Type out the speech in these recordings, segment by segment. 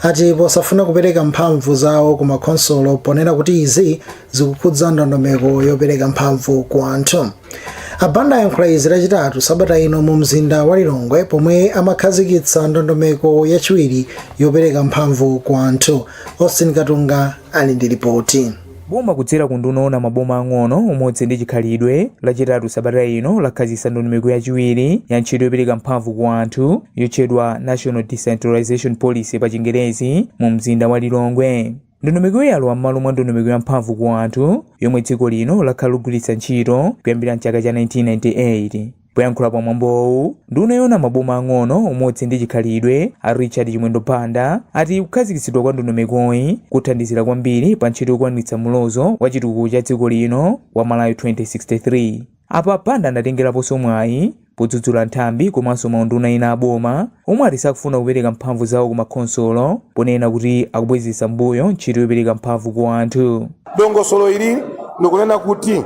ati posafuna kupereka mphamvu zawo ku makhonsolo ponena kuti izi zikukhudza ndondomeko yopereka mphamvu ku anthu a banda ayankhula izi lachitatu sabata ino mu mzinda wa lilongwe pomwe amakhazikitsa ndondomeko yachiwiri yopereka mphamvu ku anthu austin katunga ali ndi lipoti Boma kudzera ku nduna yoona maboma ang'ono, umodzi ndi chikhalidwe, lachitatu sabata ino lakhazikitsa ndondomeko yachiwiri ya ntchito yopereka mphamvu ku anthu yotchedwa National Decentralization Policy pa chingerezi mu mzinda wa Lilongwe. Ndondomekoyi yalowa m'malo mwa ndondomeko ya mphamvu ku anthu yomwe dziko lino lakhala likugwiritsa ntchito kuyambira mchaka cha 1998. Poyankhula pa mwambowu, nduna yoona maboma ang'ono, umodzi ndi chikhalidwe, a Richard Chimwendo Banda, ati kukhazikitsidwa kwa ndondomekoyi kuthandizira kwambiri pa ntchito yokwaniritsa mulozo wa chitukuko cha dziko lino wa Malawi 2063. Apa a Banda anatengeraponso mwayi podzudzula nthambi komanso maunduna ena a boma omwe ati sakufuna kupereka mphamvu zawo ku makhonsolo ponena kuti akubwezetsa m'mbuyo ntchito yopereka mphamvu ku anthu. Dongosolo ili likunena kuti.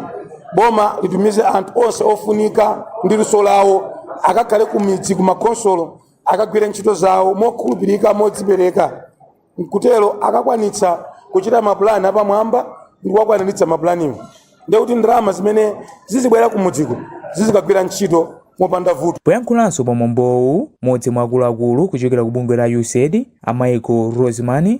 boma litumize anthu onse ofunika ndi luso lawo akakhale ku midzi ku makhonsolo akagwire ntchito zawo mokhulupirika modzipereka nkutero akakwanitsa kuchita mapulani apamwamba ndi kuwakwaniritsa mapulaniwo ndekuti ndalama zimene zizibwera ku midziko zizikagwira ntchito mopanda vuto poyankhulanso pa mwambowu modzi mwa akuluakulu kuchokera ku bungwe la usaid a michael rossman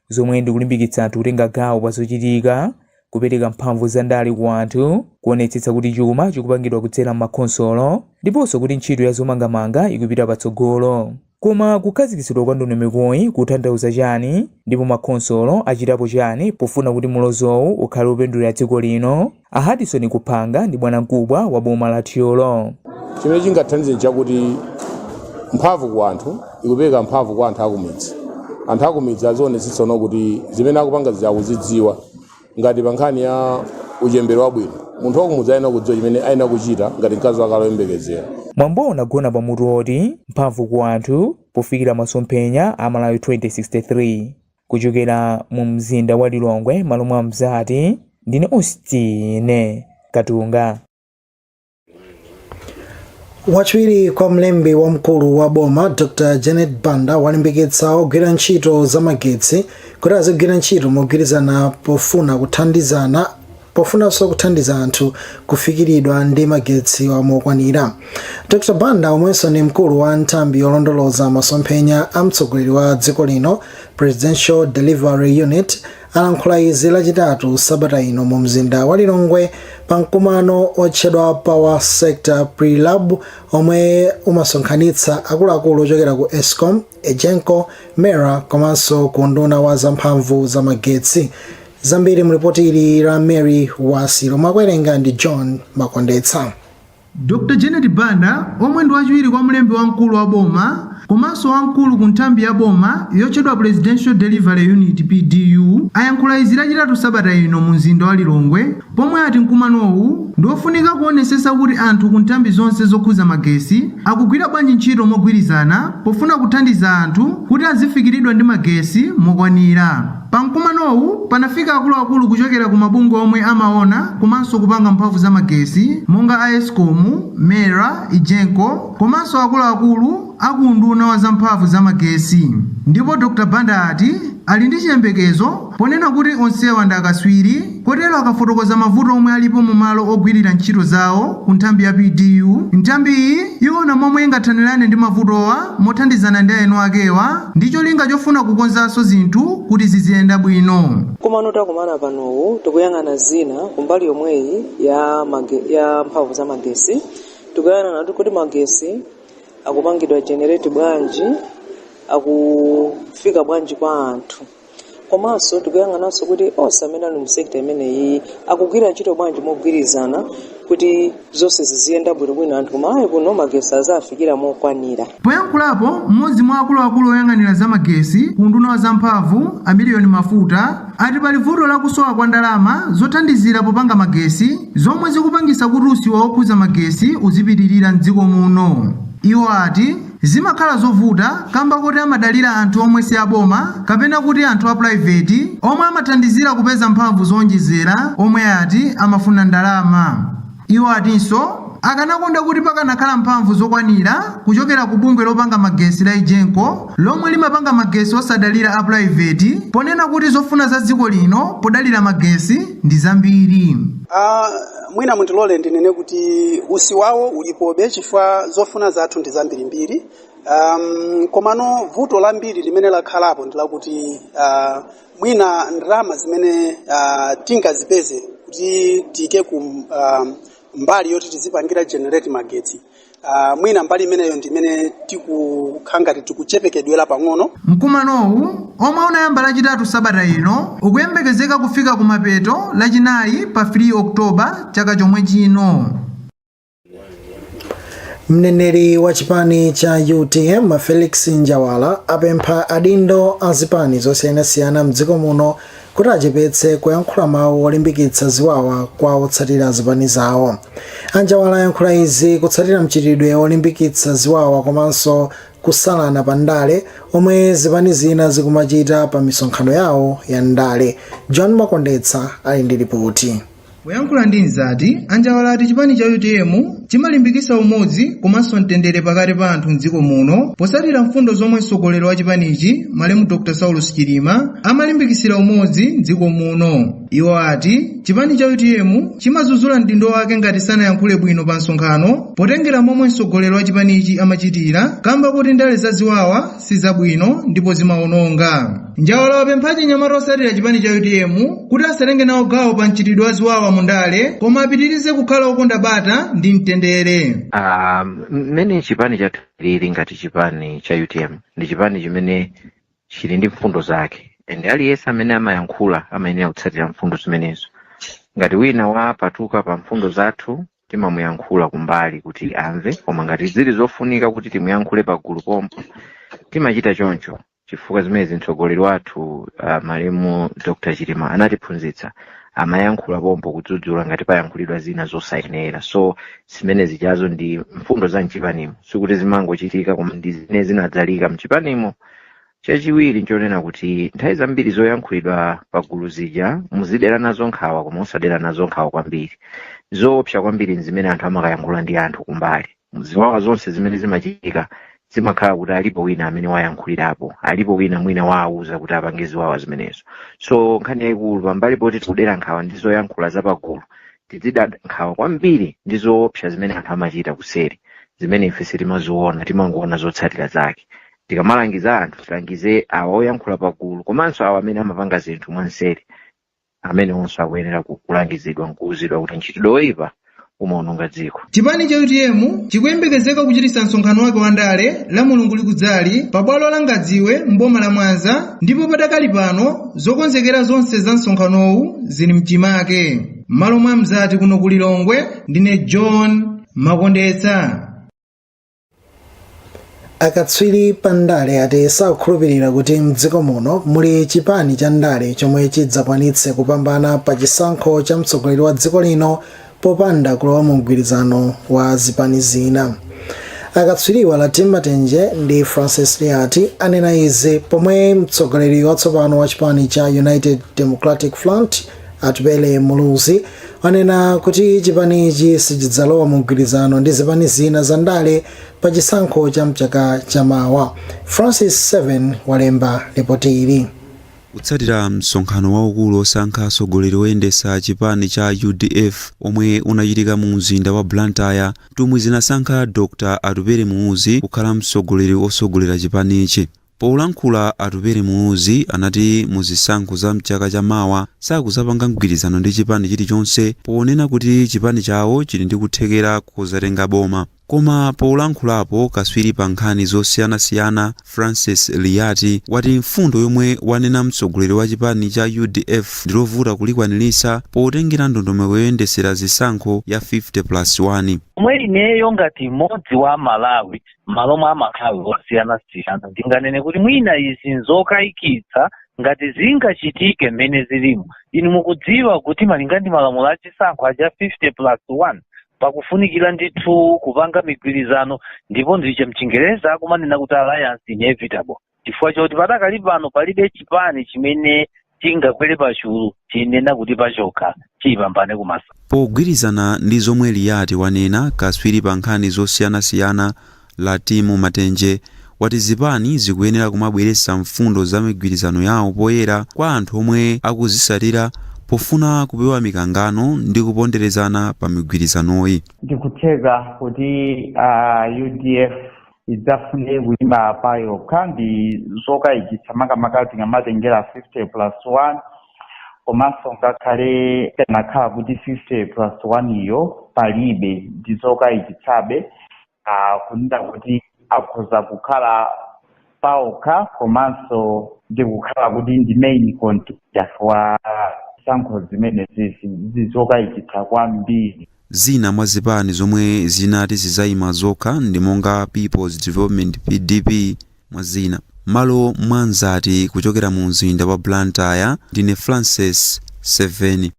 zomwe ndikulimbikitsa anthu kutenga gawo pa zochitika, kupereka mphamvu za ndale ku anthu, kuonetsetsa kuti chuma chikupangidwa kudzera m'makhonsolo, ndiponso kuti ntchito ya zomangamanga ikupita patsogolo. Koma kukhazikitsidwa kwa ndondomekoyi kukutanthauza chani, ndipo makhonsolo achitapo chani pofuna kuti mulozowu ukhale wopindulira dziko lino? A Hudson Kuphanga ndi bwanamkubwa wa boma la Thyolo. Chimene chingathandize nchakuti mphamvu ku anthu ikupereka mphamvu kwa anthu akumidzi. Anthu akumidzi azionetsetsano kuti zimene akupanga zija akuzidziwa ngati pa nkhani ya uchembere wabwino. Munthu wakumudzi ayenera kudziwa chimene ayenera kuchita ngati mkazi wake ali woyembekezera. Mwambowu unagona pa mutu woti Mphamvu ku Anthu, Pofikira Masomphenya a Malawi 2063. kuchokera mu mzinda wa Lilongwe malo mwa Mzati ndine Austin Katunga. wachiwiri kwa mlembi wamkulu wa boma dr janet banda walimbikitsa ogwira ntchito zamagetsi kuti azigwira ntchito mogwirizana pofuna kuthandizana pofunanso kuthandiza anthu kufikiridwa ndi magetsiwa mokwanira. Dr Banda omwenso ndi mkulu wa nthambi yolondoloza masomphenya a mtsogoleri wa dziko lino, Presidential Delivery Unit, alankhula izi lachitatu sabata ino mu mzinda wa Lilongwe pa mkumano otchedwa Power Sector Pre-Lab omwe umasonkhanitsa akuluakulu ochokera ku Escom, Egenco, Mera komanso ku unduna wa zamphamvu za magetsi. zambiri mulipoti ili la mary wasi lomwe akuwerenga ndi john makondetsa dr janet banda omwe ndi wachiwiri kwa mlembi wamkulu wa boma komanso wamkulu ku nthambi ya boma yotchedwa presidential delivery unit pdu ayankhula izi lachitatu sabata ino mu mzinda wa lilongwe pomwe ati mkumanowu ndi wofunika kuonesesa kuti anthu ku nthambi zonse zokhuza magesi akugwira bwanji ntchito mogwirizana pofuna kuthandiza anthu kuti azifikiridwa ndi magesi mokwanira Pa mkumanowu panafika akuluakulu kuchokera ku mabungwe omwe amaona komanso kupanga mphamvu za magesi monga a escom, mera, egenco komanso akuluakulu a ku unduna wa za mphamvu za magesi ndipo Dr Banda ati ali ndi chiyembekezo ponena kuti onsewa ndi akaswiri Kotero akafotokoza mavuto omwe alipo mu malo ogwirira ntchito zawo ku nthambi ya PDU, nthambi iyi iwona momwe ingathanirane ndi mavutowa mothandizana ndi eni akewa ndi cholinga chofuna kukonzanso zinthu kuti ziziyenda bwino. Mkumano takumana panowu tikuyang'ana zina kumbali yomweyi ya mage, ya mphamvu za magesi tikuyang'ana kuti kodi magesi akupangidwa generate bwanji akufika bwanji kwa anthu komanso tikuyang'ananso kuti onse amene ali mu sector imeneyi akugwira ntchito bwanji mogwirizana kuti zonse ziziyenda bwinobwino anthu kumalawi kuno magesi azafikira mokwanira Poyankhulapo, mmodzi mwa akuluakulu oyang'anira za magesi ku unduna wa zamphamvu, a Miliyoni Mafuta, ati pali vuto la kusowa kwa ndalama zothandizira popanga magesi, zomwe zikupangisa kuti usiwa wokhuza magesi uzipitirira m'dziko muno. Iwo ati Zimakhala zovuta kamba kuti amadalira anthu omwe si aboma kapena kuti anthu a pulaiveti omwe amathandizira kupeza mphamvu zoonjezera omwe ati amafuna ndalama. Iwo atinso akanakonda kuti pakanakhala mphamvu zokwanira kuchokera ku bungwe lopanga magesi la Egenco lomwe limapanga magesi osadalira a pulaiveti ponena kuti zofuna za dziko lino podalira magesi ndi zambiri. mwina mundilole ndinene kuti usiwawo ulipobe chifukwa zofuna zathu ndi zambirimbiri um, komano vuto lambiri limene lakhalapo ndi lakuti uh, mwina ndalama zimene uh, tingazipeze kuti tiyike ku um, mbali yoti tizipangira generate magetsi Uh, mwina mbali imeneyo ndi imene tikukhala ngati tikuchepekedwera pang'ono mkumanowu omwe unayamba lachitatu sabata ino ukuyembekezeka kufika kumapeto lachinayi pa 3 oktoba chaka chomwe chino mneneri wa chipani cha utm felix njawala apempha adindo a zipani zosiyanasiyana mdziko muno kuti achepetse kuyankhula mawu olimbikitsa ziwawa kwa otsatira zipani zawo. A Njawala ayankhula izi kutsatira mchitidwe olimbikitsa ziwawa komanso kusalana pa ndale omwe zipani zina zikumachita pa misonkhano yawo ya ndale. John Makondetsa ali ndi lipoti. Poyankhula ndi Mzati, a Njawala ati chipani cha utm chimalimbikitsa umodzi komanso mtendere pakati pa anthu m'dziko muno potsatira mfundo zomwe mtsogoleri wa chipanichi malemu Dr Saulos Chilima amalimbikitsira umodzi m'dziko muno. Iwo ati chipani cha utm chimadzudzula mdindo wake ngati sanayankhule bwino pa msonkhano potengera momwe mtsogoleri wa chipanichi amachitira kamba kuti ndale za ziwawa si zabwino ndipo zimawononga njawala wapempha achinyamata otsatira chipani cha utm kuti asatenge nawo gawo pa mchitidwe wa ziwawa mu ndale koma apitirize kukhala okonda bata ndi mtendere Um, mmene chipani chathu chilili ngati chipani cha utm ndi chipani chimene chili ndi mfundo zake and aliyense amene amayankhula amayenera kutsatira mfundo zimenezo ngati wina wapatuka pa mfundo zathu timamuyankhula kumbali kuti amve koma ngati zili zofunika kuti timuyankhule pagulu pompo timachita choncho chifukwa zimenezi mtsogoleri wathu uh, malemu dr chilima anatiphunzitsa amayankhula pompo kudzudzula ngati payankhulidwa zina zosayenera so zimene zijazo ndi mfundo za mchipanimo sikuti zimangochitika koma ndi zimene zinadzalika mchipanimo chachiwiri nchonena kuti nthawi zambiri zoyankhulidwa pa gulu zija muzidera nazo nkhawa koma musadera nazo nkhawa kwambiri zoopsa kwambiri nzimene anthu amakayankhula ndi anthu kumbali ziwawa zonse zimene zimachitika zimakhala kuti alipo wina amene wayankhulirapo alipo wina mwina wawauza kuti apange ziwawa zimenezo so nkhani yayikulu pambali poti tikudera nkhawa ndi zoyankhula zapagulu tizida nkhawa kwambiri ndi zoopsa zimene anthu amachita kuseri zimene ife sitimaziona timangoona zotsatira zake tikamalangiza anthu tilangize awa oyankhula pagulu komanso awa amene amapanga zinthu mwanseri amene onse akuyenera ku- kulangizidwa nkuuzidwa kuti mchitidwe woyipa umaononga dziko chipani cha utm chikuyembekezeka kuchititsa msonkhano wake wa ndale la mulungu likudzali pa bwalo la ngadziwe mboma la mwanza ndipo padakali pano zokonzekera zonse za msonkhanowu zili mchimake m'malo mwa mzati kuno ku lilongwe ndine john makondetsa akatswiri pa ndale ati sakukhulupirira kuti mdziko muno muli chipani cha ndale chomwe chidzakwanitse kupambana pa chisankho cha mtsogoleri wa dziko lino popanda kulowa mu mgwirizano wa zipani zina akatswiriwa latimu matenje ndi francis liyati anena izi pomwe mtsogoleri watsopano wa chipani cha united democratic front atupele muluzi anena kuti chipanichi sichidzalowa mu mgwirizano ndi zipani zina za ndale pa chisankho cha mchaka cha mawa francis 7 walemba lipoti ili kutsatira msonkhano waukulu osankha atsogoleri oyendetsa chipani cha udf omwe unachitika mu mzinda wa blantyre nthumwi zinasankha dr atupele muluzi kukhala mtsogoleri wotsogolera chipanichi Polankhula Atupele Muluzi anati mu zisankho za mchaka cha mawa sakuzapanga mgwirizano ndi chipani chilichonse ponena kuti chipani chawo chili ndi kuthekera kozatenga boma. Koma polankhulapo kaswiri pa nkhani zosiyanasiyana Francis Liyati wati mfundo yomwe wanena mtsogoleri wa chipani cha udf ndilovuta kulikwanilisa potengera ndondomeko yoyendesera zisankho ya 50 plus 1. Omwe ineyo ngati m'modzi wa a Malawi malo omwe amakhala osiyanasiyana ndinganene kuti mwina izi nzokayikitsa ngati zingachitike mmene zilimu inu mukudziwa kuti malinga ndi malamulo achisankho aja 50 plus 1 pakufunikira ndithu kupanga migwirizano ndipo ndicho mchingereza akumanena kuti alliance inevitable chifukwa choti padakali pano palibe chipani chimene chingakwere pachulu chinena kuti pachokha chiyipambane kumasa Pogwirizana ndi zomwe Liyati wanena, katswiri pa nkhani zosiyanasiyana Latimu Matenje wati zipani zikuyenera kumabweretsa mfundo za migwirizano yawo poyera kwa anthu omwe akuzitsatira pofuna kupewa mikangano ndi kuponderezana pa migwirizanoyi. Ndikutheka kuti udf idzafune kuyima pa yokha ndi zokayikitsa makamaka tikamatengera 50 plus 1 komanso ngakhale kunakhala kuti 50 plus 1 iyo palibe ndi zokayikitsabe ah, kunena kuti akhoza kukhala paokha komanso ndi kukhala kuti ndi main contender wa zisankho zimenezi ndi zokayikitsa kwambiri Zina mwa zipani zomwe zinati zizayima zokha ndi monga Peoples Development, PDP, mwa zina. M'malo mwa Nzati kuchokera mu mzinda wa Blantyre, ndine Francis Seveni.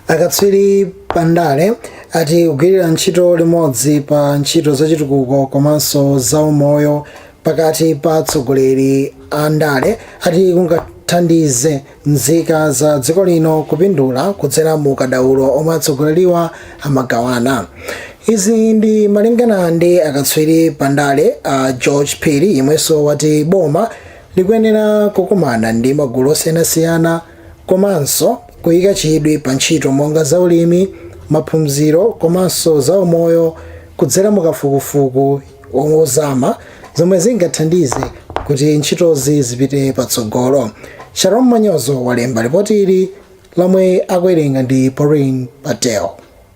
Akatswiri pa ndale ati kugwirira ntchito limodzi pa ntchito zachitukuko komanso zaumoyo pakati pa atsogoleri a ndale ati kungathandize nzika za dziko lino kupindula kudzera mu ukadaulo omwe atsogoleriwa amagawana izi ndi malingana ndi akatswiri pa ndale a george phiri yemwenso wati boma likuyenera kukumana ndi magulu osiyanasiyana komanso kuyika chidwi pa ntchito monga zaulimi maphunziro komanso zaumoyo kudzera mu kafukufuku ozama zomwe zingathandize kuti ntchitozi zipite patsogolo sharon manyozo walemba ripoti ili lomwe akuwerenga ndi pauline patel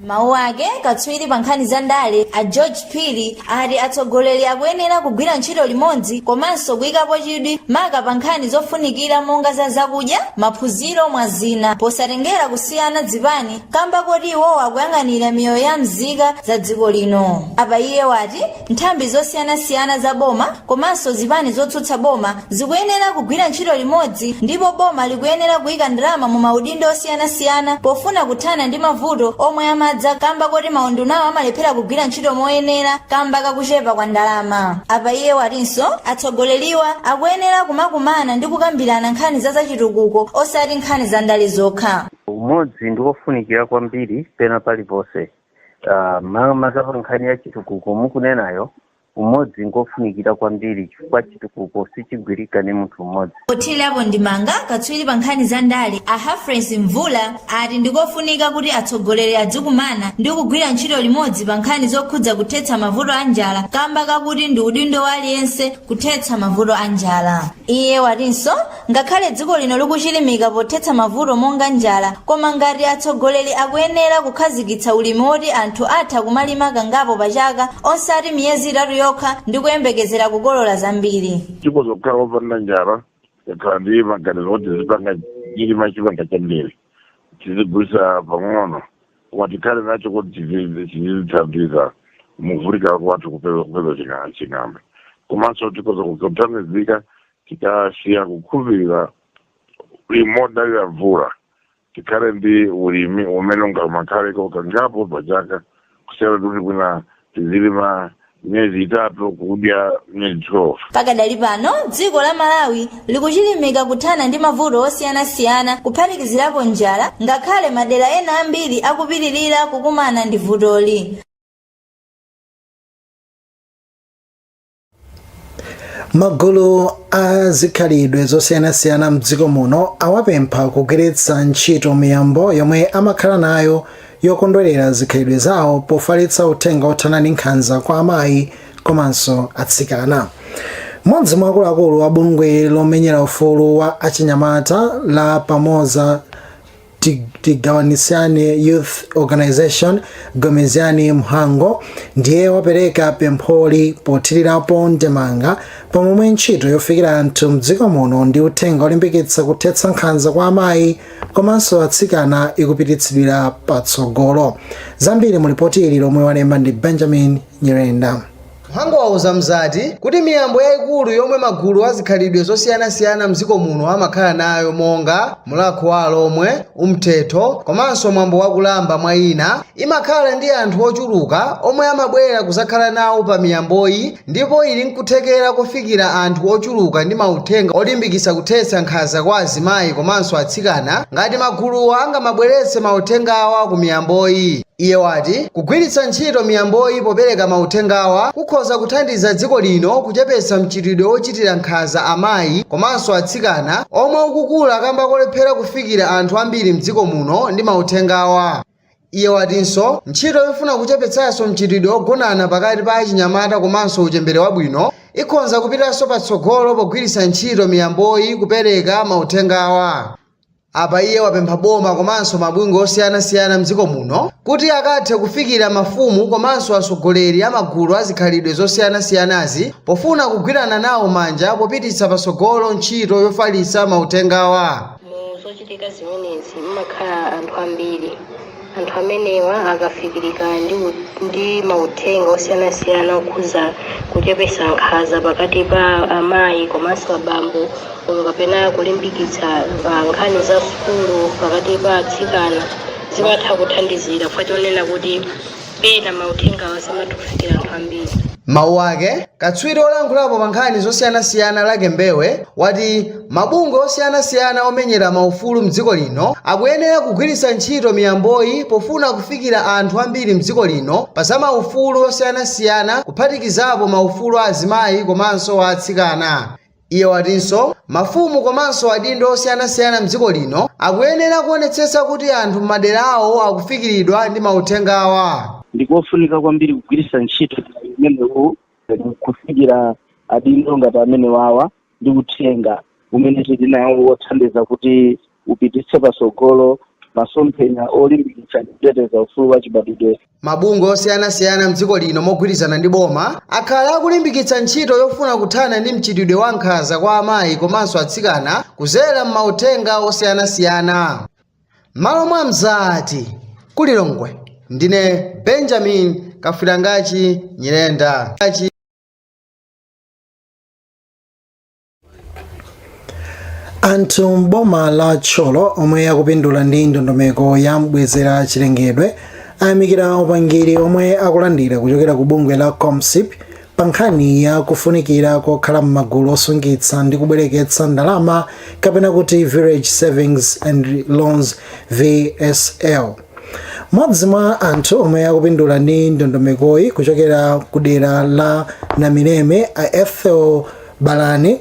mawu ake katswiri pa nkhani za ndale a george phiri ati atsogoleri akuyenera kugwira ntchito limodzi komanso kuyikapo chidwi maka pa nkhani zofunikira monga za zakudya maphunziro mwa zina posatengera kusiyana zipani kamba koti iwowo akuyang'anira miyoyo ya mzika za dziko lino apa iye wati nthambi zosiyanasiyana za boma komanso zipani zotsutsa boma zikuyenera kugwira ntchito limodzi ndipo boma likuyenera kuyika ndalama mu maunduna osiyanasiyana pofuna kuthana ndi mavuto omwe amadza kamba koti maundunawa amalephera kugwira ntchito moyenera kamba kakuchepa kwa ndalama apa iye watinso atsogoleriwa akuyenera kumakumana ndi kukambirana nkhani za zachitukuko osati nkhani za ndale zokha Umodzi ndi wofunikira kwambiri pena paliponse. Makamaka pa nkhani ya chitukuko mukunenayo, umodzi ngwofunikira kwambiri chifukwa chitukuko sichigwirika ndi munthu mmodzi. Pothirirapo ndemanga, katswiri pa nkhani za ndale a Humphreys Mvula ati ndi kofunika kuti atsogoleri adzikumana ndi kugwira ntchito limodzi pa nkhani zokhudza kuthetsa mavuto a njala kamba kakuti ndi udindo wa aliyense kuthetsa mavuto a njala. Iye watinso Ngakhale dziko lino likuchilimika pothetsa mavuto monga njala, koma ngati atsogoleri akuyenera kukhazikitsa ulimi woti anthu atha kumalima kangapo pa chaka osati miyezi itatu yokha ndi kuyembekezera kukolola zambiri. Tikhoza kukhala opanda njala tikakhala ndi maganizo oti tizipanga chilima chimanga chambiri tizigulitsa pang'ono koma tikhale nacho kuti tizi- tizithandiza mukuvutika kwathu kupeza kupeza chinga- chimanga komanso tikhoza kuthandizika Tikasiya kukhulupirira ulimi wodalira mvula, tikhale ndi ulimi umene ungamakhaleko kangapo pa chaka kusiyana ndi kuti mwina tizilima miyezi itatu kudya miyezi 12. Pakadali pano, dziko la Malawi likuchilimika kuthana ndi mavuto osiyanasiyana kuphatikizirapo njala ngakhale madera ena ambiri akupitirira kukumana ndi vutoli. magulu a zikhalidwe zosiyanasiyana mdziko muno awapempha kugwiritsa ntchito miyambo yomwe amakhala nayo yokondwerera zikhalidwe zawo pofalitsa uthenga othana ndi nkhanza kwa amayi komanso atsikana mmodzi mwa akuluakulu a bungwe lomenyera ufulu wa achinyamata la pamoza Tigawanisane Youth Organization Gomezani Mhango ndiye wapereka pempholi pothirirapo ndemanga pa momwe ntchito yofikira anthu mdziko muno ndi uthenga olimbikitsa kuthetsa nkhanza kwa amayi komanso atsikana ikupititsidwira patsogolo zambiri mu lipoti ili lomwe walemba ndi benjamin nyirenda Mhango wauza Mzati kuti miyambo yaikulu yomwe magulu a zikhalidwe zosiyanasiyana mdziko muno amakhala nayo monga Mulakho wa Alomwe, Umthetho komanso mwambo wa Kulamba mwa ina, imakhala ndi anthu ochuluka omwe amabwera kuzakhala nawo pa miyamboyi ndipo ili nkuthekera kofikira anthu ochuluka ndi mauthenga olimbikitsa kuthetsa nkhanza kwa azimayi komanso atsikana ngati maguluwa angamabweretse mauthengawa ku miyamboyi. Iye wati kugwiritsa ntchito miyamboyi popereka mauthengawa kukhonza kuthandiza dziko lino kuchepetsa mchitidwe wochitira nkhanza amayi komanso atsikana omwe ukukula kamba kolephera kufikira anthu ambiri mdziko muno ndi mauthengawa. Iye watinso ntchito yofuna kuchepetsanso mchitidwe wogonana pakati pa achinyamata komanso uchembere wabwino ikhonza kupitanso patsogolo pogwiritsa ntchito miyamboyi kupereka mauthengawa. Apa iye wapempha boma komanso mabungwe osiyanasiyana mdziko muno kuti akathe kufikira mafumu komanso atsogoleri a magulu a zikhalidwe zosiyanasiyanazi pofuna kugwirana nawo manja popititsa patsogolo ntchito yofalitsa mauthengawa. Mu zochitika zimenezi mumakhala anthu ambiri. anthu amenewa akafikirika ndi, ndi mauthenga osiyanasiyana okhuza kuchepesa nkhaza pakati pa amayi komanso abambo olo kapena kulimbikitsa ah, nkhani za sukulu pakati pa atsikana zimatha kuthandizira chifukwa chonena kuti pena mauthengawa samatha kufikira anthu ambiri Mawu ake, katswiri olankhulapo pa nkhani zosiyanasiyana Lucky Mbewe wati Mabungwe osiyanasiyana omenyera maufulu m'dziko lino akuyenera kugwiritsa ntchito miyamboyi pofuna kufikira anthu ambiri m'dziko lino pa za maufulu osiyanasiyana kuphatikizapo maufulu a azimayi komanso a atsikana. Iye watinso mafumu komanso adindo osiyanasiyana m'dziko lino akuyenera kuonetsetsa kuti anthu m'madera awo akufikiridwa ndi mauthengawa. Ndi kofunika kwambiri kugwiritsa ntchito mwayi umenewu kufikira adindo ngati amenewawa. ndi uthenga umene tili nawo wothandiza kuti upititse patsogolo masomphenya olimbikitsa ndi kuteteza ufulu wa chibadwidwe Mabungwe osiyanasiyana m'dziko lino mogwirizana ndi boma akhala akulimbikitsa ntchito yofuna kuthana ndi mchitidwe wa nkhanza kwa amayi komanso atsikana kudzera m'mauthenga osiyanasiyana. M'malo mwa Mzati, ku Lilongwe, ndine Benjamin Kafirangachi Nyirenda. anthu m'boma la Thyolo omwe akupindula ndi ndondomeko ya mbwezera chilengedwe ayamikira upangiri omwe akulandira kuchokera ku bungwe la comsip pa nkhani ya kufunikira kokhala m'magulu osungitsa ndi kubwereketsa ndalama kapena kuti village savings and loans vsl Modzi mwa anthu omwe akupindula ndi ndondomekoyi kuchokera kudera la Namireme a Ethel Balani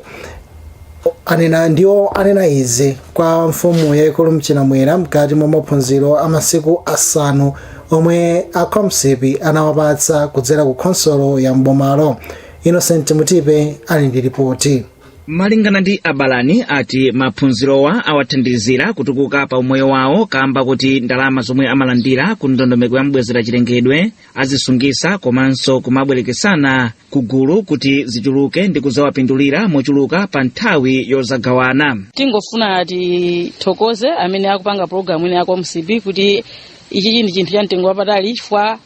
anena ndiwo anena izi kwa mfumu yaikulu Mchiramwera mkati mwa maphunziro a masiku asanu omwe a Comsip anawapatsa kudzera ku khonsolo ya m'bomalo. Innocent Mutipe ali ndi lipoti. malingana ndi abalani ati maphunzirowa awathandizira kutukuka pa umoyo wawo kamba koti ndalama zomwe amalandira ku ndondomeko ya mbwezera chilengedwe azisungisa komanso kumabwerekesana ku gulu kuti zichuluke ndi kuzawapindulira mochuluka pa nthawi yozagawana tingofuna tithokoze amene akupanga programu ino ya Comsip kuti ichichi ndi chinthu cha mtengo wapatali chifukwa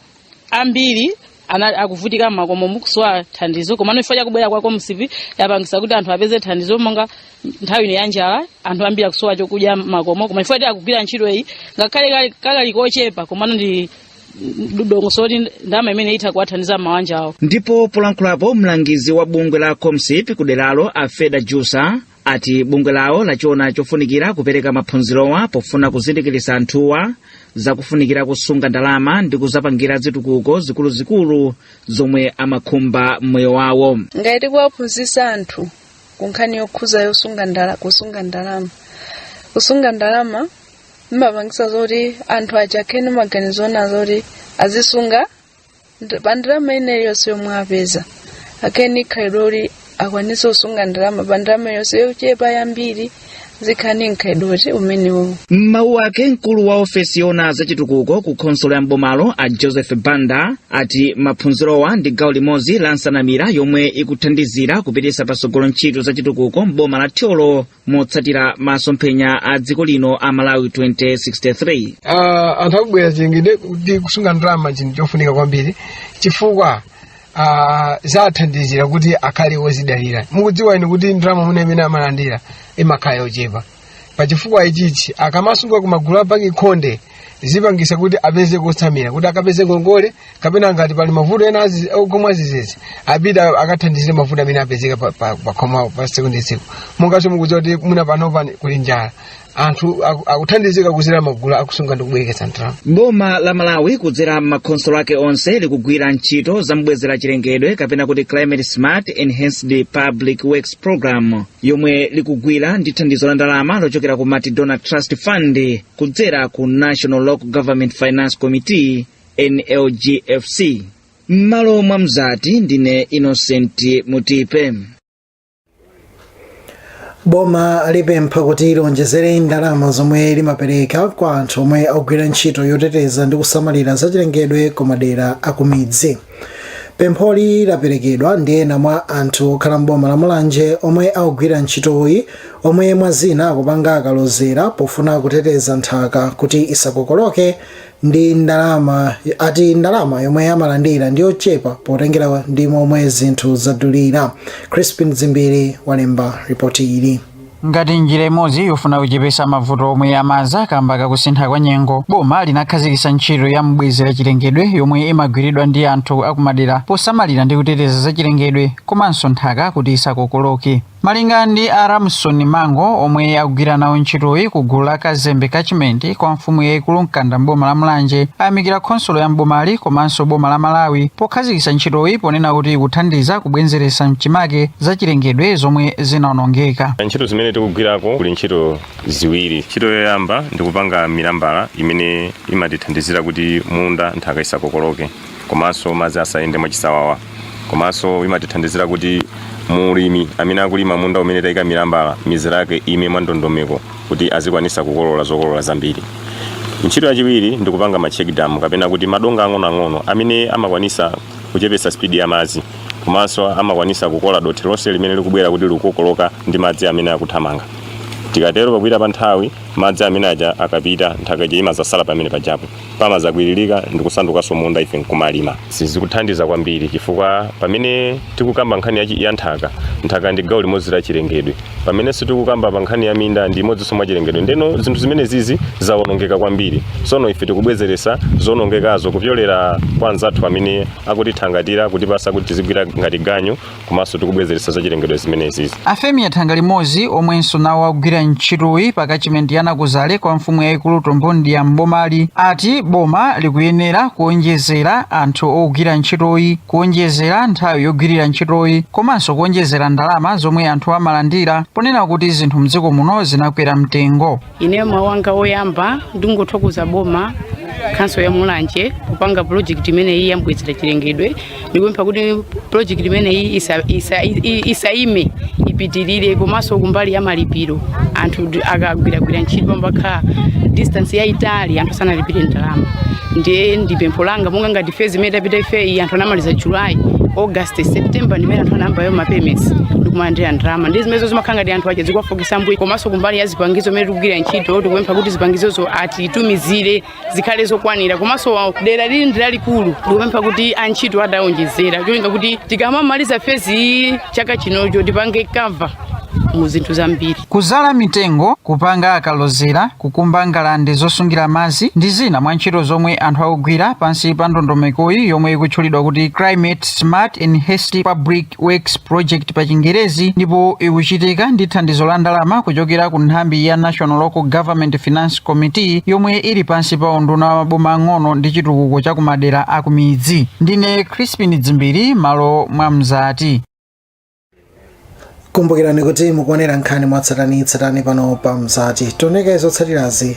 ambiri ana- akuvutika makomo mukusowa thandizo komano chifukwa chakubwera kwa Comsip yapangisa kuti anthu apeze thandizo monga nthawi ino ya njala anthu ambiri akusowa chokudya makomo koma chifukwa ti akugwira ntchito iyi ngakhale kali- kakali kochepa komano ndi dongosolo kuti ndalama imene itha kuwathandiza mawanja awo ndipo polankhulapo mlangizi wa bungwe la comsip kuderalo afeda jusa ati bungwe lawo lachiona chofunikira kupereka maphunzirowa pofuna kuzindikiritsa anthuwa zakufunikira kusunga ndalama ndi kuzapangira zitukuko zikuluzikulu zomwe amakhumba mmoyo wawo ngati tikuwaphunzitsa anthu ku nkhani yokhudza yosunga ndala kusunga ndalama kusunga ndalama imapangisa zoti anthu azikhala ndi maganizo oona zoti azisunga pa ndalama ina iliyonse yomwe apeza akhale ndi khalidwe loti akwanise kusunga ndalama pa ndalama iliyonse yochepa yambiri azikhala ndi mkhalidwe oti umenewo m'mawu ake mkulu wa ofesi yoona za chitukuko ku khonsolo ya mbomalo a joseph banda ati maphunzirowa ndi gawo limodzi la nsanamira yomwe ikuthandizira kupititsa patsogolo ntchito za chitukuko m'boma la thyolo motsatira masomphenya a dziko lino a malawi 2063 uh, anthu a mbwezera chilengedwe kuti kusunga ndalama chinthu chofunika kwambiri chifukwa uh, zathandizira kuti akhale wozidalira mukudziwa inu kuti ndalama mwina imene amalandira imakhala yochepa pachifukwa ichichi akamasunga kumagulu a banki khonde zipangisa kuti apeze kotsamira kuti akapeze ngongole kapena ngati pali mavuto ena akukhoma adzidzidzi apita akathandizire mavuto amene apezeka pa- pa- pakhomawo pa tsiku ndi tsiku monganso mukudziwa kuti mwina panopa kuli njala anthu aku- akuthandizika kuzera magulu akusunga ndi kubwereketsa ndalama boma la malawi kudzera m'makhonsolo ake onse likugwira ntchito za mbwezera chilengedwe kapena kuti climate smart enhanced public works program yomwe likugwira ndi thandizo la ndalama lochokera ku multi donor trust fund kudzera ku national local government finance committee nlg fc m'malo mwa mzati ndine innocent mutipe boma alipempha kuti lionjezere ndalama zomwe limapereka kwa anthu omwe akugwira ntchito yoteteza ndi kusamalira zachilengedwe ku madera akumidzi pempholi laperekedwa ndi ena mwa anthu okhala m'boma la mulanje omwe akugwira ntchitoyi omwe mwa zina akupanga akalozera pofuna kuteteza nthaka kuti isakokoloke ati ndalama yomwe amalandira ndi yochepa potengera ndi momwe zinthu zadulira crispin zimbiri walemba ripoti ili ngati njira imodzi yofuna kuchepesa mavuto omwe amadza kamba kakusintha kwa nyengo boma linakhazikitsa ntchito ya mbwezera chilengedwe yomwe imagwiridwa ndi anthu akumadera posamalira ndi kuteteza za chilengedwe komanso nthaka kuti isakokoloke Malinga ndi a Ramson Mango omwe akugwira nawo ntchitoyi ku gulu la Kazembe Catchment kwa mfumu yaikulu Mkanda m'boma la Mulanje ayamikira khonsolo ya m'bomali komanso boma la Malawi pokhazikitsa ntchitoyi ponena kuti ikuthandiza kubwenzeretsa mchimake zachilengedwe zomwe zinaonongeka. ntchito zimene tikugwirako kuli ntchito ziwiri ntchito yoyamba ndikupanga milambala imene imatithandizira kuti munda nthaka isakokoloke komanso madzi asayende mwachisawawa komanso imatithandizira kuti mulimi amene akulima munda umene tayika milambala mizera yake ime mwa ndondomeko kuti azikwanisa kukolola zokolola zambiri ntchito yachiwiri ndi kupanga ma check dam kapena kuti madonga ang'onoang'ono amene amakwanisa kuchepesa spidi ya madzi komanso amakwanisa kukola dothi lonse limene likubwera kuti likukokoloka ndi madzi amene akuthamanga tikatero pakupita pa nthawi madzi amene aja akapita nthaka ija imazasala pamene pajapo pamazakwiririka ndi kusandukanso munda ife nkumalima izi zikuthandiza kwambiri chifukwa pamene tikukamba nkhani ya, chi- ya nthaka nthaka ndi gawo limodzi la chilengedwe pamenenso tikukamba pa nkhani ya minda ndi imodzinso mwa chilengedwe ndeno zinthu zimenezizi zawonongeka kwambiri sono ife tikubwezeretsa zonongekazo kupyolera kwa anzathu amene akutithangatira kutipasa kuti tizigwira ngati ganyu komanso tikubwezeretsa zachilengedwe zimenezi mafumu athanga limodzi omwenso nawo akugwira ntchitoyi pa catchment ya nakuzale kwa mfumu yayikulu tombondiya mbomali ati boma likuyenera kuonjezera anthu ogwira ntchitoyi kuonjezera nthawi yogwirira ntchitoyi komanso kuonjezera ndalama zomwe anthu amalandira ponena kuti zinthu mdziko muno zinakwera mtengo ineyo mawu anga oyamba ndingothokoza boma khonsolo ya mulanje kupanga project imeneyi yambwezera chilengedwe ndikupempha kuti project imeneyi isa- isa- i- isaime ipitirire komanso kumbali ya malipiro anthu ndi- akagwiragwira ntchito pamakhala distance yayitali anthu sanalipire ndalama ndiye ndi pempho langa monga ngati phase imene tapita ifeyi anthu anamaliza july august september ndimene anthu anayamba mapayments ndikumalandira ndalama ndi zimenezo zimakhala ngati anthu aja zikuwafoke misambo komanso kumbali ya zipangizo mmene tikugwira ntchito tikupempha kuti zipangizozo atitumizire zikhale zokwanira komanso wa- dera ili ndi lalikulu tikupempha kuti antchito atawonjezera cholinga kuti tikamamaliza phase iyi chaka chinocho tipange cover mu zinthu zambiri kuzala mitengo kupanga akalozera kukumba ngalande zosungira madzi ndi zina mwa ntchito zomwe anthu akugwira pansi pa ndondomekoyi yomwe ikutchulidwa kuti climate smart enhanced public Works Project pa Chingerezi ndipo ikuchitika ndi thandizo la ndalama kuchokera ku nthambi ya National Local Government Finance Committee yomwe ili pansi pa unduna wa maboma ang'ono ndi chitukuko cha kumadera akumidzi. Ndine Crispin Dzimbiri m'malo mwa Mzati. kumbukirani kuti mukuonera nkhani mwatsatanitsatani pano pa mzati onani kaye zotsatirazi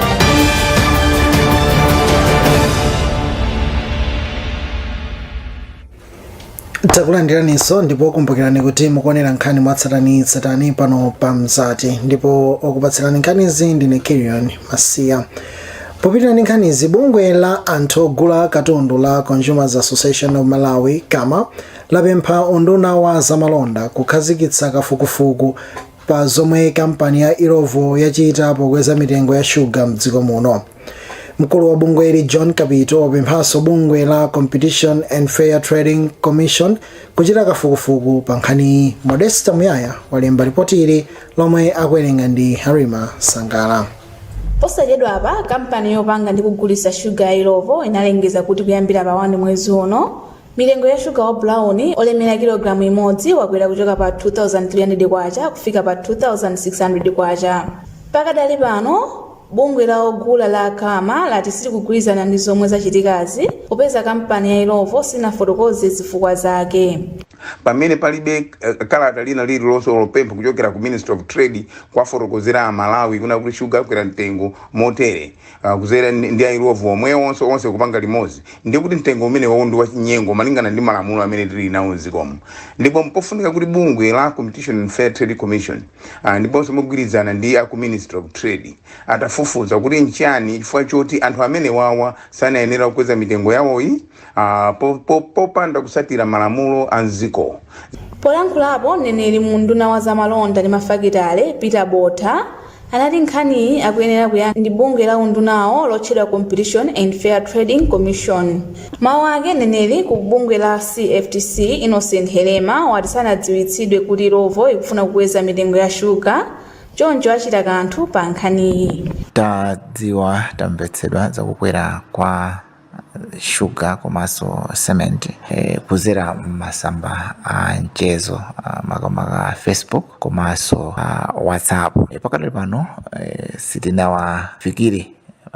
takulandiraninso ndipo kumbukirani kuti mukuonera nkhani mwatsatanitsatani pano pa mzati ndipo okupatsirani nkhanizi ndine kirion masiya popitiriza ndi nkhanizi bungwe la anthu ogula katundu la consumers association of malawi cama lapempha unduna wa zamalonda kukhazikitsa kafukufuku pa zomwe kampani ya Illovo yachita pokweza mitengo ya shuga m'dziko muno. Mkulu wa bungweli John Kapito wapemphanso bungwe la Competition and Fair Trading Commission kuchita kafukufuku pa nkhaniyi. Modesta Muyaya walemba ripoti ili lomwe akuwerenga ndi Halima Sangala. posachedwa apa kampani yopanga ndi kugulitsa shuga ya Illovo inalengeza kuti kuyambira pa 1 mwezi uno Mitengo ya shuga wa brown olemera kilogalamu imodzi wakwera kuchoka pa K2,300 kufika pa K2,600. Pakadali pano, bungwe la ogula la Cama lati silikugwirizana ndi zomwe zachitikazi popeza kampani ya Illovo sinafotokoze zifukwa zake. Pamene palibe kalata lina lililonse olo pempho kuchokera ku Ministry of Trade kuwafotokozera a Malawi kunena kuti shuga akwera mtengo motere, ah, kuzera ndi ndi a illovo omwewonso onse kupanga limodzi ndi kuti mtengo umenewo ndi wachinyengo malingana ndi malamulo amene tili nawo mdziko muno ndipo mpofunika kuti bungwe la competition and fair trade commission ah, ndiponso mogwirizana ndi aku ministry of trade atafufuza kuti nchiyani chifukwa choti anthu amenewawa sanayenera kukweza mitengo yawoyi ah, po- po- popanda kusatira malamulo a mdziko polankhulapo mneneri mu unduna wa zamalonda ndi mafakitale peter botha anati nkhaniyi akuyenera kuyankha ndi bungwe la undunawo lotchedwa competition and fair trading commission mawu ake mneneri ku bungwe la cftc innocent helema wati sanadziwitsidwe kuti illovo ikufuna kukweza mitengo ya shuga choncho achita kanthu pa nkhaniyi tadziwa tamvetsedwa zakukwera kwa shuga komanso cement eh, kuzera mmasamba a mchezo makamaka facebook komanso ah, whatsapp Eh, pakadali pano eh, sitinawafikire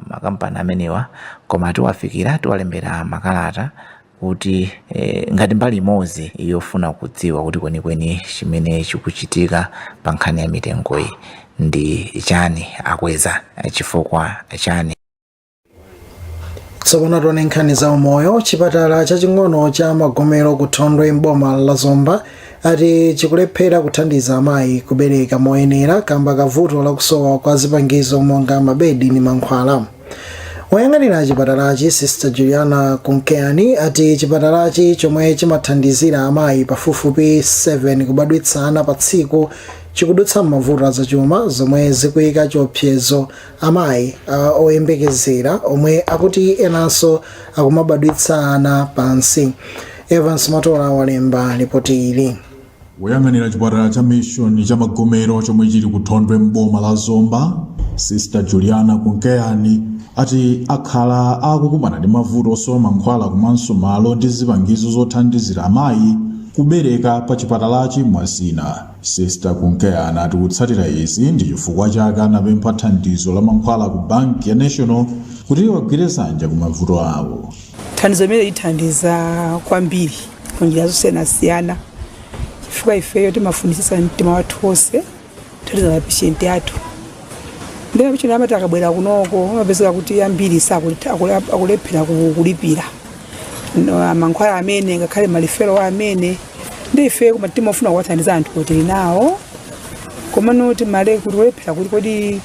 makampani amenewa koma tiwafikira tiwalembera makalata kuti eh, ngati mbali imodzi yofuna kudziwa kuti kwenikweni chimene chikuchitika pa nkhani ya mitengoyi ndi chani akweza eh, chifukwa chani tsopano tione nkhani za umoyo chipatala chaching'ono cha magomero ku thondwe mboma la zomba ati chikulephera kuthandiza amayi kubereka moyenera kamba ka vuto lakusowa kwa zipangizo monga mabedi ndi mankhwala woyang'anira chipatalachi sister juliana kunkeyani ati chipatalachi chomwe chimathandizira amayi pafupifupi 7 kubadwitsana pa tsiku chikudutsa m'mavuto azachuma zomwe zikuyika chiopsezo Amayi oyembekezera omwe akuti enanso akumabadwitsa ana pansi. Evans Matola walemba lipoti ili. Woyang'anira chipatala cha Mission cha Magomero chomwe chili ku Thondwe m'boma la Zomba, Sister Juliana Kunkeyani ati akhala akukumana ndi mavuto osowa mankhwala komanso malo ndi zipangizo zothandizira amayi kubereka pa chipatalachi mwa zina. Sister Kunkeyani ati kutsatira izi ndi chifukwa chake anapempha thandizo la mankhwala ku banki ya National kuti iwagwire dzanja ku mavuto awo. Thandizo limeneli lithandiza kwambiri mu njira zosiyanasiyana chifukwa ifeyo timafunitsitsa mtima wathu wonse kuthandiza mapeshenti athu ndipo mapeshenti amati akabwera kunoko amapezeka kuti ambiri sakuti akulephera kulipira. no- mankhwala amene ngakhale malifero amene ndi ife koma timafuna kuwathandiza anthu kuti tili nawo komano timale kuti kulephera kuti kodi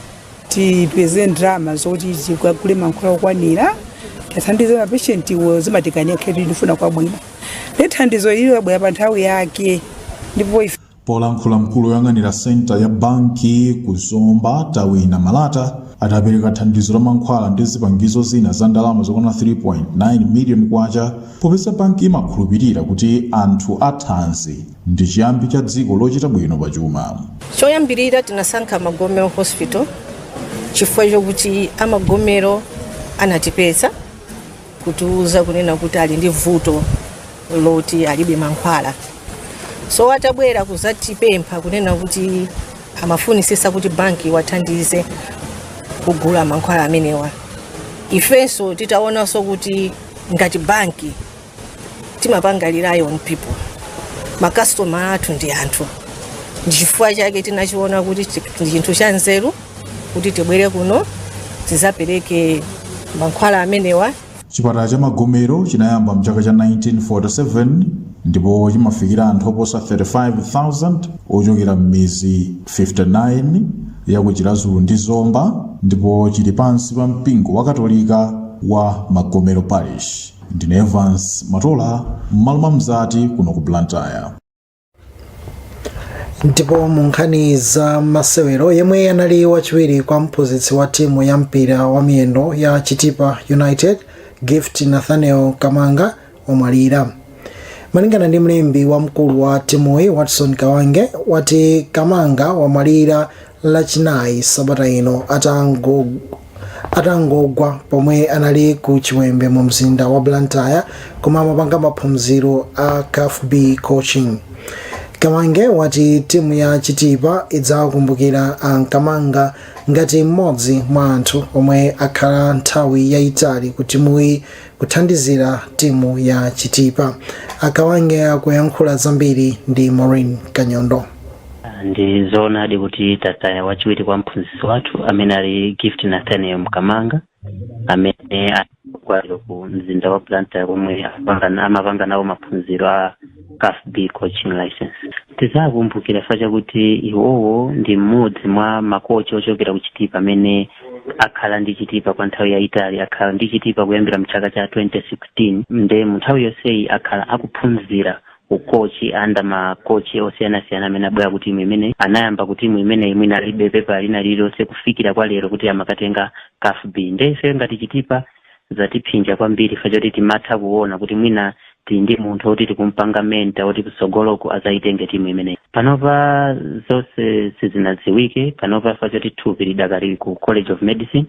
tipeze ndalama zoti tikagule mankhwala okwanira tiathandize mapeshentiwo zimatikanika khetu ndifuna kwabwino ndi thandizo ili labwera pa nthawi yake ndipo ife Polankhula mkulu oyang'anira centre ya banki ku Zomba Tawina Malata adapereka thandizo la mankhwala ndi zipangizo zina za ndalama zokwana K3.9 million popeza banki imakhulupilira kuti anthu a thanzi ndi chiyambi cha dziko lochita bwino pa chuma. Choyambilira tinasankha Magomero Hospital chifukwa chokuti a Magomero anatipeza. kutiuza kunena kuti ali ndi vuto loti alibe mankhwala so atabwera kuzatipempha kunena kuti amafunisisa kuti banki iwathandize kugula mankhwala amenewa ifenso titaonanso kuti ngati banki timapanga rely on people makastoma athu ndi anthu ndichifukwa chake tinachiona kuti chi- ndi chinthu cha nzeru kuti tibwere kuno tizapereke mankhwala amenewa chipatala cha magomero chinayamba mchaka cha 1947 ndipo chimafikira anthu oposa 35,000 ochokera m'mizi 59 ya ku chiradzulu ndi zomba ndipo chili pansi pa mpingo wa katolika wa magomero parish ndine evans matola m'malo mwa mzati kuno ku blantyre ndipo mu nkhani za masewero yemwe anali wachiwiri kwa mphunzitsi wa timu ya mpira wa miyendo ya chitipa united gift nathaniel mkamanga wamwalira malingana ndi mlembi wamkulu wa timuyi watson kawange wati mkamanga wamwalira lachinayi sabata ino atangogwa pomwe anali ku chiwembe mu mzinda wa blantyre komwe amapanga maphunziro a caf b coaching kawange wati timu ya chitipa idzawakumbukira a mkamanga ngati mmodzi mwa anthu omwe akhala nthawi yayitali ku timuyi Kuthandizira timu ya Chitipa, a Kawange akuyankhula zambiri ndi Maureen Kanyondo. Ndi zoonadi kuti tataya wachiwiri kwa mphunzitsi wathu amene ali Gift Nathaniel Mkamanga amene wamwalira ku mzinda wa Blantyre komwe amapanga nawo maphunziro a caf b coaching license tizawakumbukira fa chakuti iwowo ndi mmodzi mwa makochi ochokera ku chitipa amene akhala ndi chitipa kwa nthawi yayitali akhala ndi chitipa kuyambira mchaka cha 2016 nde mu nthawi yonseyi akhala akuphunzira ukochi under makochi osiyanasiyana amene abwera ku timu imeneyi anayamba ku timu imeneyi mwina alibe pepa lina lililonse kufikira kwa lero kuti amakatenga caf b nde ife ngati chitipa zatiphinja kwambiri chifukwa choti timatha kuona kuti mwina tili ndi munthu woti tikumpanga mentor woti kutsogoloku azayitenge timu imeneyi panopa zonse sizinadziwike panopa chifukwa choti thupi lidakali ku college of medicine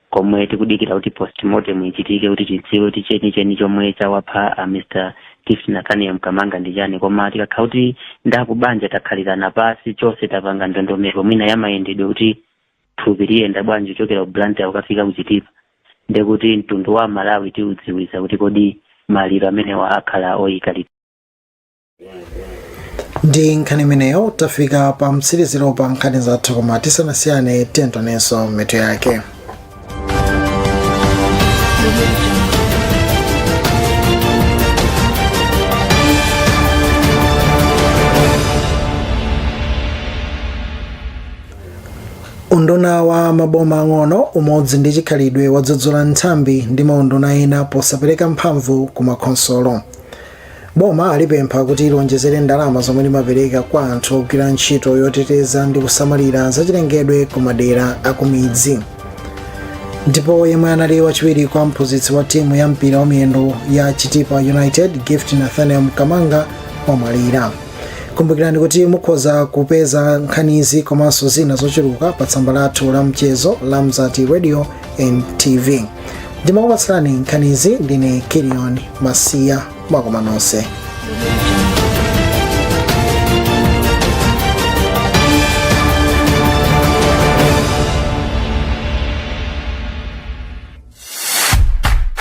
komwe tikudikira kuti postmortem ichitike kuti tidziwe kuti chenicheni chomwe chawapha a mr gift nathaniel mkamanga ndi chani koma tikakhala kuti ndi akubanja takhalirana pasi chonse tapanga ndondomeko mwina yamayendedwe kuti thupi liyenda bwanji kuchokera ku Blantyre kukafika ku Chitipa ndiye kuti mtundu wa Malawi tiudziwitsa kuti kodi maliro amenewa akhala oyika liti. ndi nkhani imeneyo tafika pa mtsiriziro pa nkhani zathu koma tisanasiyane tiyeni tionenso mitu yake Unduna wa maboma ang'ono, umodzi ndi chikhalidwe wadzudzula nthambi ndi maunduna ena posapereka mphamvu ku makhonsolo. Boma alipempha kuti liwonjezere ndalama zomwe limapereka kwa anthu ogwira ntchito yoteteza ndi kusamalira zachilengedwe ku madera akumidzi. Ndipo yemwe anali wachiwiri kwa mphunzitsi wa timu ya mpira wa miyendo ya Chitipa United, Gift Nathaniel Mkamanga, wamwalira. kumbukirani kuti mukhoza kupeza nkhanizi komanso zina zochuluka pa tsamba lathu la mchezo la mzati radio and tv ndimakupatsirani nkhanizi ndine kilion masiya mwakoma nonse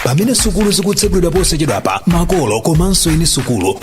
pamene sukulu zikutsegulidwa posachedwapa makolo komanso eni sukulu